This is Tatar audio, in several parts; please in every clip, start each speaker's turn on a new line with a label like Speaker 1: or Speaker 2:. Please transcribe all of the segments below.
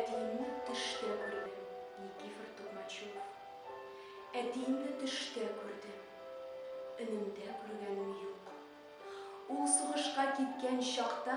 Speaker 1: Әтиемне төштә күрдем, Никифор Токмачев. Әтиемне төштә күрдем. Өнемдә күргәнем юк. Ул сугышка киткән чакта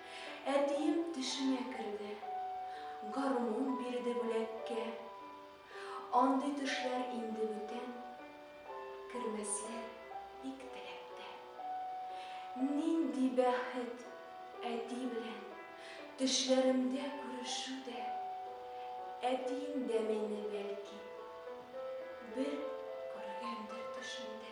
Speaker 1: Әтием төшемә керде. Гармун бирде бүләккә. Андый төшләр инде бүтән. Кермәсләр бик теләктә. Нинди бәхет, әти белән Төшләремдә күрешү дә. Әтием дә мине, бәлки, Бер күргәндер төшендә.